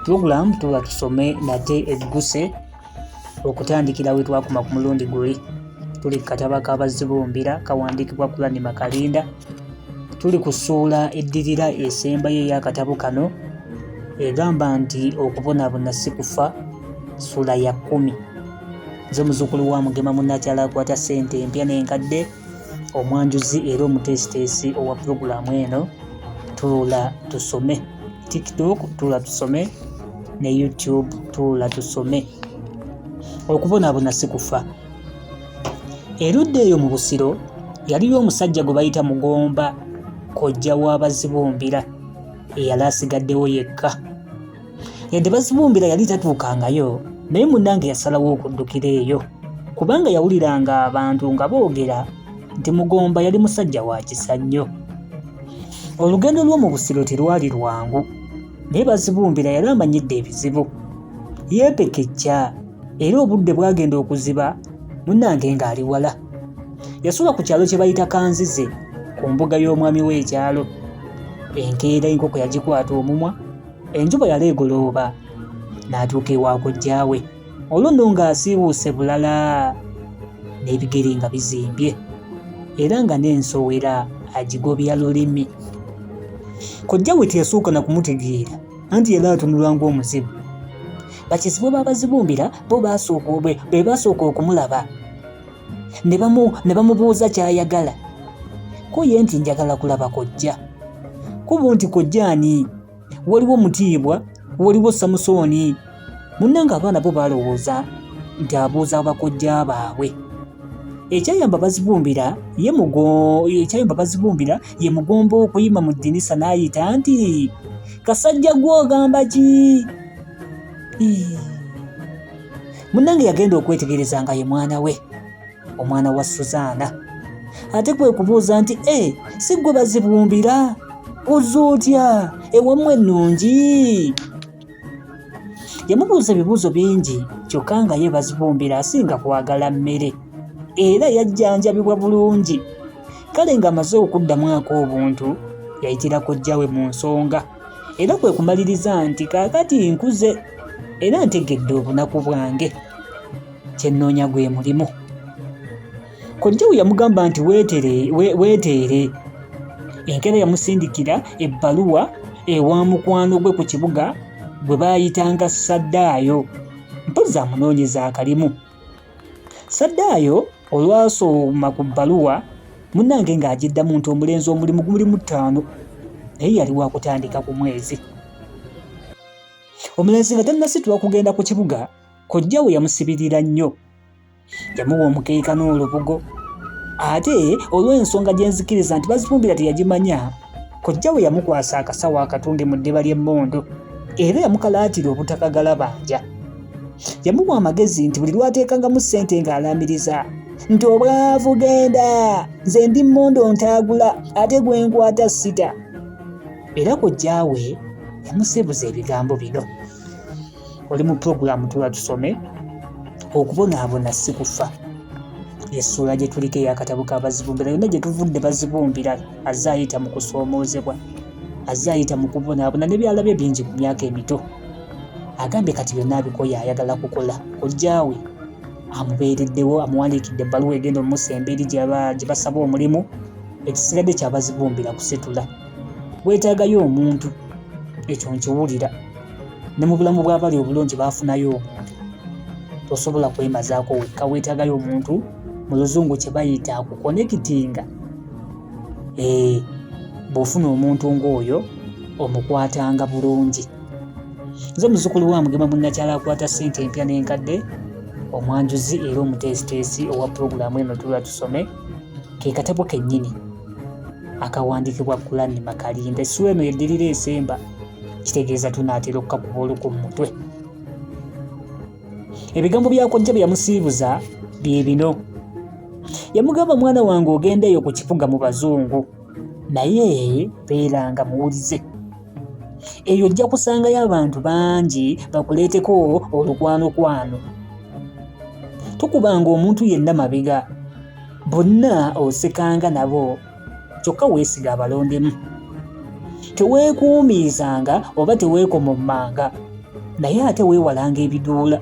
Program tuba tusome nate egguse okutandikira we twakuma ku mulundi guli tuli ku kataba ka Bazibumbira kawandiikibwa Kulani Makalinda tuli ku ssuula eddirira esembayo ey'akatabo kano egamba nti okubonabona si kufa ssuula ya kkumi nze muzukulu wa mugema munnakyala akwata ssente empya n'enkadde omwanjuzi era omuteesiteesi owa pulogulaamu eno tuula tusome tiktok tuula tusome ne youtube tuula tusome okubonaabona si kufa erudda eyo mu busiro yaliyo omusajja gwe bayita mugomba kojja w'abazibumbira eyali asigaddewo yekka yadde bazibumbira yali tatuukangayo naye munnange yasalawo okuddukira eyo kubanga yawuliranga abantu nga boogera nti mugomba yali musajja wa kisa nnyo olugendo lw'omu busiro terwali lwangu naye bazibumbira yali amanyidde ebizibu yeepekejja era obudde bwagenda okuziba munnange ng'ali wala yasula ku kyalo kye bayita kanzize ku mbuga y'omwami w'ekyalo enkeera enkoko yagikwata omumwa enju bwe yali egolooba n'atuuka ewa kojjaawe olunno ng'asiiwuuse bulala n'ebigere nga bizimbye era nga n'ensowera agigobya lulimi kojja we teyasooka na kumutegeera anti yali atunulwa ng'omuzibu bakizibwe baabazibumbira bo be baasooka okumulaba ne bamubuuza ky'ayagala ko ye nti njagala kulaba kojja kubu nti kojja ani waliwo mutiibwa waliwo samusooni munnanga abaana bo balowooza nti abuuza bakojja baabwe ekyayamba bazibumbira ye ekyayamba bazibumbira ye mugomba okuyima mu ddinisa n'ayita nti kasajja gw'ogamba ki munnange yagenda okwetegereza nga ye mwana we omwana wa suzaana ate kwe kubuuza nti e eh, si gwe bazibumbira oza otya ewamu ennungi yamubuuza ebibuuzo bingi kyokka nga ye bazibumbira asinga kwagala mmere era yajjanjabibwa bulungi kale ng'amaze okuddamu ak'obuntu yayitira kojjawe mu nsonga era kwe kumaliriza nti kaakati nkuze era ntegedde obunaku bwange kye nnoonya gwe mulimu kojjawo yamugamba nti weeteere enkeera yamusindikira ebbaluwa ewa mukwano gwe ku kibuga gwe baayitanga saddaayo mpozzi amunoonyeza akalimu Saddaayo olwasoma ku bbaluwa munnange ng'agiddamu nti omulenzi omulimu guli mu ttaano naye yali wakutandika ku mwezi omulenzi nga tannasitula kugenda ku kibuga kojja we yamusibirira nnyo yamuwa omukeeka n'olubugo ate olw'ensonga gye nzikiriza nti bazifumbira teyagimanya Kojja we yamukwasa akasawo akatunge mu ddiba ly'emmundu era yamukalaatira obutakagala banja. Yamuwa amagezi nti buli lwateekangamu ssente ng'alaamiriza nti obwavu genda nze ndi mmondo ntaagula ate gwe nkwata sita. Era kojja we yamusebuza ebigambo bino. oli mu pulogulaamu tuba tusome okubonaabona si kufa essuula gye tuliko eyakatabo ka bazibumbira yonna gye tuvudde bazibumbira azze ayita mu kusoomoozebwa azze ayita mu kubonaabona nebyalabye bingi ku myaka emito agambye kati byonna abikoye ayagala kukola kojjaawe amubeereddewo amuwandiikidde ebbaluwa egenda omusa embeeri gye basaba omulimu ekisigadde kyabazibumbira kusitula weetaagayo omuntu ekyo nkiwulira ne mu bulamu bw'abali obulungi baafunayo omuntu tosobola kwemazaako wekka weetaagayo omuntu mu luzungu kye bayita akukonekitinga ee eh, bw'ofuna omuntu ng'oyo omukwatanga bulungi nze omuzukulu wa mugema munnakyala akwata ssente empya n'enkadde omwanjuzi era omuteesiteesi owa pulogulaamu eno tula tusome ke katabo kennyini akawandiikibwa Kulani Makalimba. Essula eno yeddirira esemba, kitegeeza tunaatera okukakuba oluku mu mutwe. Ebigambo bya kojja bye yamusiibuza bye bino. Yamugamba, mwana wange ogendeeyo ku kifuga mu bazungu, naye beeranga muwulize. Eyo ojja kusangayo abantu bangi bakuleeteko olukwanokwano. Tukubanga omuntu yenna mabega. bonna osekanga nabo kyokka weesiga abalondemu teweekuumiizanga oba teweekomommanga naye ate weewalanga ebiduula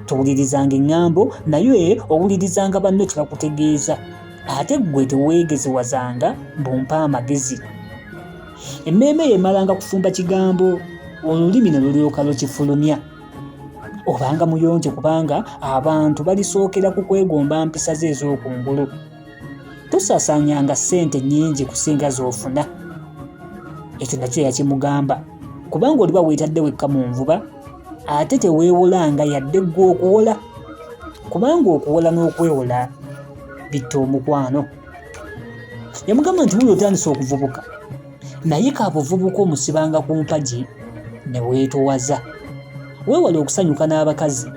towulirizanga eŋŋambo naye owulirizanga banno kye bakutegeeza ate ggwe teweegezewazanga bumpa amagezi emmeeme yeemalanga kufumba kigambo olulimi ne lulyoka lukifulumya obanga muyonjo kubanga abantu balisookera ku kwegomba mpisa ze ez'okungulu tosasanyanga ssente nnyingi kusinga z'ofuna ekyo nakyo yakimugamba kubanga oliba weetadde wekka mu nvuba ate teweewolanga yadde ggwe okuwola kubanga okuwola n'okwewola bitta omukwano yamugamba nti wuli otandise okuvubuka naye ka buvubuka omusibanga ku mpagi ne weetowaza weewale okusanyuka n'abakazi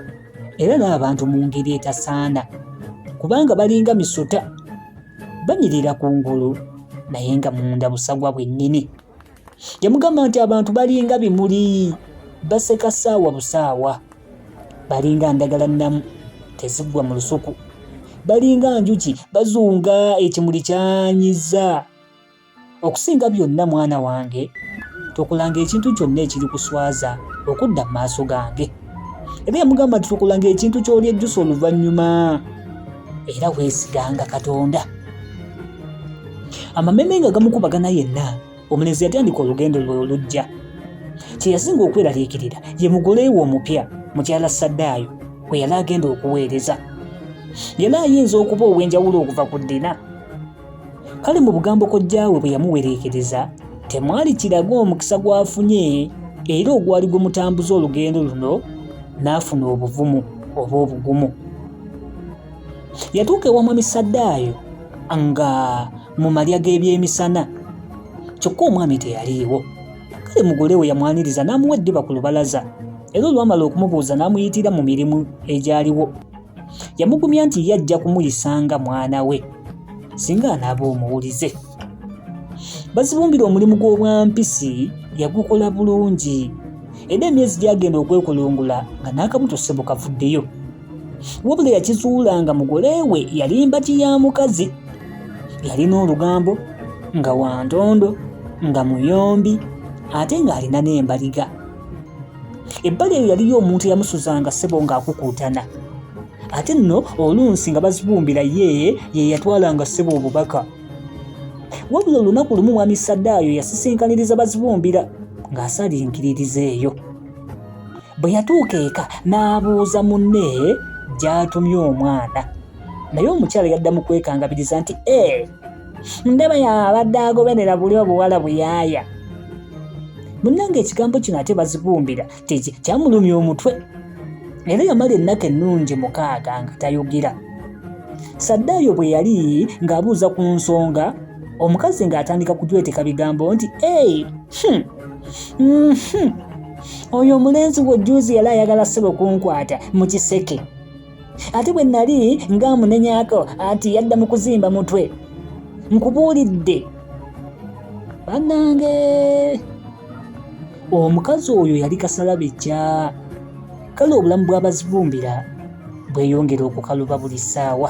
era n'abantu mu ngeri etasaana kubanga balinga misota banyirira ku ngulu naye nga munda busagwa bwennyini yamugamba nti abantu balinga bimuli baseka saawa busaawa balinga ndagala nnamu teziggwa mu lusuku balinga njuki bazunga ekimuli kyanyiza Okusinga byonna mwana wange, tokolanga ekintu kyonna ekirikuswaza okudda mu maaso gange. Era yamugamba nti tokolanga ekintu ky'olyejjusa oluvannyuma, era weesiganga Katonda. Amameme nga gamukubagana yenna, omulenzi yatandika olugendo lwe olujja. Kye yasinga okweraliikirira ye mugole we omupya, mukyala Saddaayo, kwe yali agenda okuweereza. Yali ayinza okuba ow'enjawulo okuva ku Dina. kale mu bugambo kojjaawe bwe yamuwereekereza temwali kiraga omukisa gw'afunye era ogwali gwe mutambuza olugendo luno n'afuna obuvumu oba obugumu yatuuka ewa mwami saddaayo nga mu malya g'ebyemisana kyokka omwami teyaliiwo kale mugole we yamwaniriza n'amuwa eddiba ku lubalaza era olwamala okumubuuza n'amuyitira mu mirimu egyaliwo yamugumya nti ye ajja kumuyisanga mwana we singa anaaba omuwulize bazibumbira omulimu gw'obwampisi yagukola bulungi era emyezi gyagenda okwekulungula nga n'akabuto ssebo kavuddeyo wabula yakizuula nga mugole we yalimba ki ya mukazi yalina olugambo nga wantondo nga muyombi ate ng'alina n'embaliga ebbali eyo yaliyo omuntu eyamusuzanga ssebo ng'akukuutana ate nno oluusi nga bazibumbira ye ye yatwalanga ssebo obubaka wabula olunaku lumu mwami saddaayo yasisinkaniriza bazibumbira ng'asalinkiririza eyo bwe yatuuka eka n'abuuza munne gy'atumye omwana naye omukyala yadda mu kwekangabiriza nti ee eh, ndaba yabadde agoberera buli obuwala buyaaya munnange ekigambo kino ate bazigumbira kyamulumya omutwe era yamala ennaku ennungi mukaaga nga tayogera saddaayo bwe yali ng'abuuza ku nsonga omukazi ng'atandika kujweteka bigambo nti ei hmm, mhm, oyo omulenzi wejjuuzi yali ayagala sebo kunkwata mu kiseke ate bwe nali ng'amunenyako anti yadda mu kuzimba mutwe nkubuulidde bannange omukazi oyo yali kasalabejja kale obulamu bw'abazibumbira bweyongera okukaluba buli ssaawa